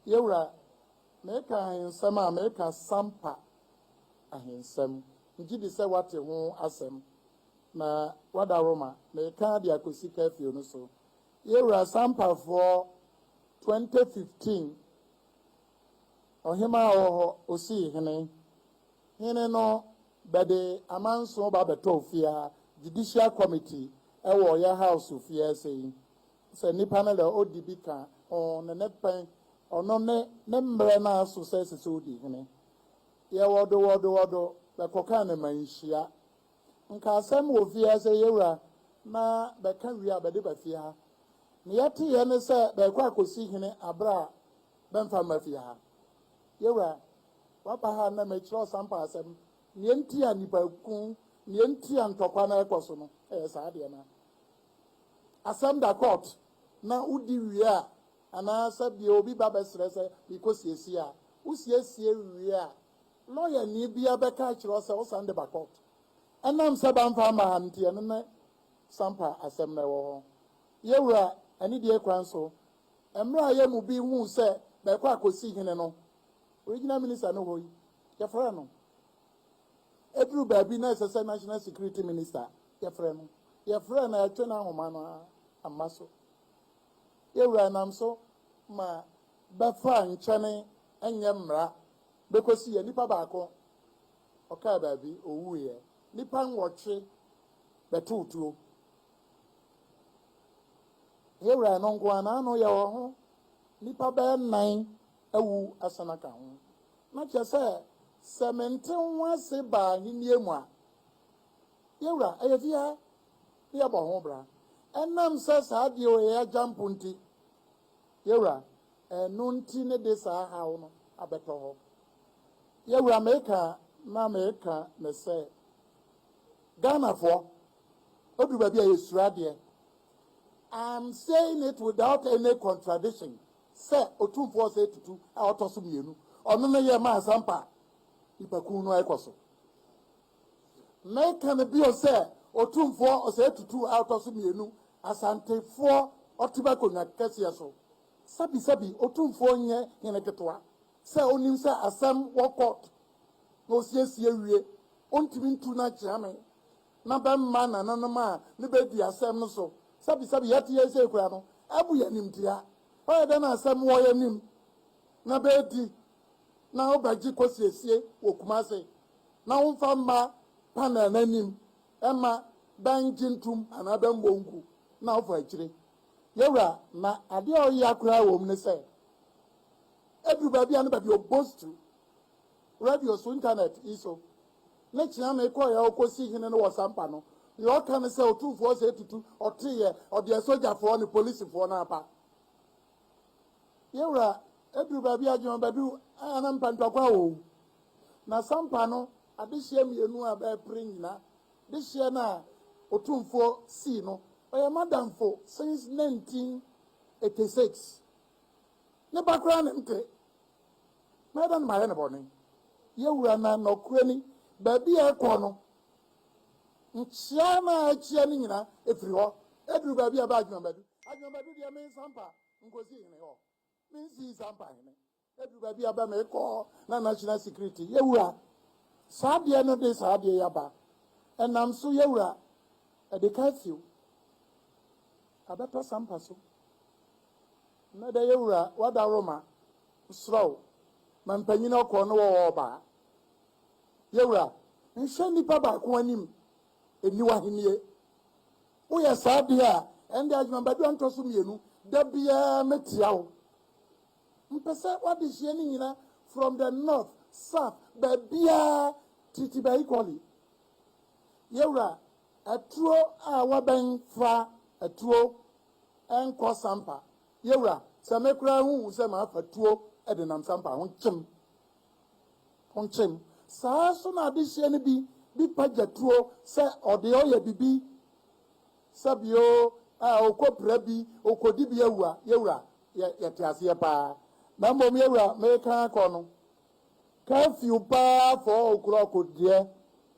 Yewura, mereka ahensɛm a mereka sampa ahensɛm, megye di sɛ woate ho asɛm, na woada Roma, mereka de akosi curfew no so. Yewura, sampafoɔ, 2015 Ɔhemaa a ɔwɔ hɔ, osii hene. Hene no bɛde amanso ba bɛtɔɔ fie ha, Judicial Committee, ɛwɔ yɛ House fie ha sei. Sɛ nipa no na odi bi ka ho no, ne pɛn, ɔno ne ne mmerɛ no ara so sɛ ɛsɛ sɛ odi hene. Yɛ wɔdo, wɔdo, wɔdo, bɛkɔkaa no manhyia. Nka asɛm wɔ fie ha sɛ, Yewura, na bɛka wie a, bɛde ba fie ha. Ne yɛteeɛ ne sɛ bɛrekɔ akɔsi hene aberɛ a bɛmfa mma fie ha. Yewura, waba ha na mekyerɛ ɔsampa asɛm, neɛ nti a nnipa ku, neɛ nti a ntɔkwa no ɛrekɔ so no, ɛyɛ saa adeɛ no ara. Asɛm da court na wodi wie a anaa sɛ bia obi ba bɛsrɛ sɛ mekɔ siesie a, wo siesie wie a lawyer ni bia bɛka akyerɛ wo sɛ wo san de ba court. Ɛnam sɛ bamfa amma ha no nti ɛno ne sampa asɛm no ɛwɔ hɔ. Yɛwura anidie kwan so mmra yɛ mu bi hu sɛ bɛkɔ akɔsi hene no Original minister no hɔ yi yɛfrɛ no ɛduru baabi na ɛsɛ sɛ national security minister Yɛfrɛ no, yɛfrɛ no, ɛtwe n'ahoma no ara mma so. Yɛn Wura nam so ma bɛfa a nkyɛne nyɛ mmara bɛkɔsi yɛn. Nipa baako, ɔkaa baabi, ɔwuiɛ. Nnipa nwɔtwe bɛtoo tuo. Yɛn Wura no nko ara, n'ano yɛ wɔ ho. Nnipa bɛyɛ nnan awu asane aka ho. Na kyerɛ sɛ, sɛ mente ho ase ba Ahennie mu a, Yɛn Wura, ɛyɛ fi ha na yɛbɔ ho bra. Ɛnam sɛ saa deɛ wei yɛ agya mpo nti, Yɛn Wura, ɛno nti ne de saa haw no abɛtɔ hɔ. Yɛn Wura, meka na meka ne sɛ, Ghanafoɔ, ɛduru baabi a yɛsuro adeɛ. I am saying it without any contradiction sɛ Otumfoɔ Osei Tutu a ɔtɔ so mmienu, ɔno ne yɛma Asampa nnipakuo no ɛrekɔ so. Meka no bio sɛ Otumfoɔ Osei Tutu a ɔtɔ so mmienu Asantefoɔ ɔte m'akonnwa kɛseɛ so. Sɛbisɛbi Otumfoɔ nyɛ hene ketewa sɛ ɔnnim sɛ asɛm wɔ court na ɔsiesie wie, ɔntumi ntu no akyea me na bɛmma nananom a ne bɛdi asɛm no so. Sɛbisɛbi yɛte yei sei koraa no, abu yɛn animtia. Ɔyɛ dɛn na asɛm wɔ yɛn anim na bɛdi na wobɛgye kosiesie wɔ Kumasi na womfa mma panel no anim mma bɛngye ntom anaa bɛmmɔ ngu na wofa akyire. Yɛwura, na adeɛ a ɔyea koraa wɔ mu ne sɛ, ɛduru baabi a ne baabi ɔbɔstu, radio so, internet yi so, ne kyea me kɔeɛ a ɔkɔsi hene no wɔ Sampa no, deɛ ɔka ne sɛ, Otumfoɔ sɛ tutu, ɔteeɛ, ɔde asogyafoɔ ne polisifoɔ no aba. Yɛn wura, ɛduru baabi a gyama bɛduru a na mpantwa kɔ awɔ o. Na sampa no adehyeɛ mmienu a bɛɛpere nyina dehyeɛ no a Otumfoɔ sii no ɔyɛ m'adamfo since 1986. Ne ba koraa ne nte. Mɛɛdɛn na mayɛ no bɔne? Yɛn wura na nɔkorɛ ni baabi a ɛkɔ no Nkyea na akyia no nyina firi hɔ duru baabi a ɛbɛ Adwemabadu. Adwemabadu deɛ mensampa nkɔsi hene hɔ. Mensii sampa hene. Ɛduru baabi a ɛbɛ mekɔ na National Security, Yawura, saa adeɛ no de saa adeɛ yi aba. Ɛnam so, Yawura, ɛde curfew abɛpa sampa so. Nnɛ dɛ Yawura, w'adaworoma, mesrɛ wo, ma mpanyini ɔkɔɔ ne wɔwɔ ɔbaa. Yɛwura, nhyɛ nnipa baako anim nni w'ahennie. Woyɛ saa deɛ a, ɛnde adwemabadua ntɔ so mmienu, da biara mɛtia wo. Mpɛ sɛ w'adehyeɛ no nyina from the north, south, baabiara Tiritiba equally. Yɛwura, atuo a wabɛn fa atuo nkɔ sampa. Yɛwura, sɛ me koraa huhu sɛ mafa tuo denam sampa ho, kyem Ponkyem. Saa ara nso na adehyeɛ no bi bi pagya tuo sɛ ɔdeɛ ɔyɛ bibi sɛbi oo ah ɔkɔ pira bi ɔkɔ di bi awua yɛwura yɛ yɛte aseɛ paa na mmom yɛwura meka akɔ no curfew paa four o'clock deɛ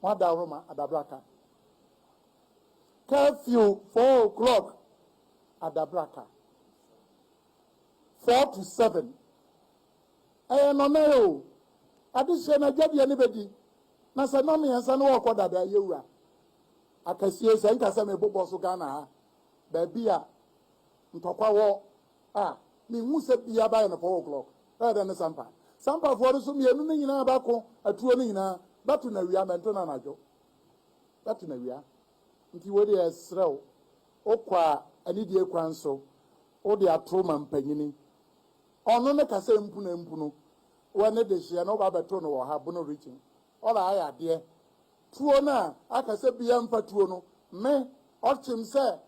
mo ada ahoroma adabraka curfew four o'clock adabraka four to seven Ɛyɛ nnɔnae o, adehyeɛ no adwadeɛ no bɛdi, na sɛ nnɔn mmiɛnsa no ɔɔkɔ dada, yɛwura akasie, sɛ nka sɛ mebobɔ so Ghana ha, baabi a ntɔkwa wɔ a, menhu sɛ bia bayɛ no four o'clock, bɛyɛ dɛ ne Sampa. Sampafoɔ no nso mmienu no nyinaa bɛko atuo no nyinaa, bɛto no awia, mɛnto no anadwo, bɛto no awia. Nti wei deɛ yɛsrɛ wo, wokɔ a anidie kwan so, wode ato ma mpanyini. Ɔno ne kasa mpuna mpunu wɔ ne dehyeɛ na woba bɛto no wɔ ha bono reaching ɔla ayɛ adeɛ tuo no a aka sɛ bia mfa tuo no me ɔkyem sɛ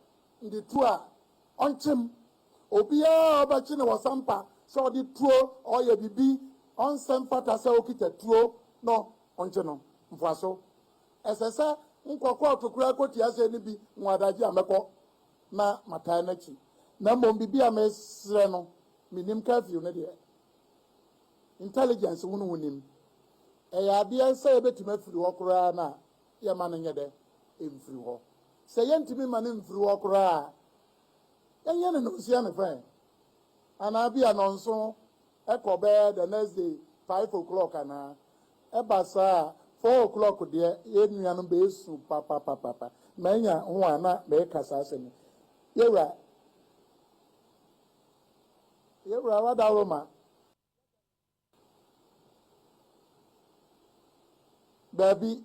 nde tuo a ɔnkyem obiaa a ɔbɛkye no wɔ sampa sɛ ɔde tuo ɔyɛ bibi ɔnsɛ mfata sɛ ɔkita tuo no ɔnkye no mfoaso ɛsɛ sɛ nkɔ kɔɔto koraa kɔti asɛ no bi nwa adagye a mɛkɔ na mataa n'akyi, na mmom biribi a meresrɛ no, mennim curfew no deɛ, intelligence wo ne wonim, ɛyɛ adeɛ sɛ yɛbɛtumi afiri hɔ koraa no a, yɛmma no nyɛ dɛ, ɛmfiri hɔ. Sɛ yɛntumi mma no mfiri hɔ koraa a, yɛnyɛ no nonsia ne fɛn, anaa bia nɔnso. Ɛkɔ bɛyɛ the next day five o'clock anaa, ɛba saa a four o'clock deɛ yɛn nuanom bɛsu papapapapa. Manya ho a na meka saa asɛm yi, Yɛwura, Yɛwura wada Roma. Daabi.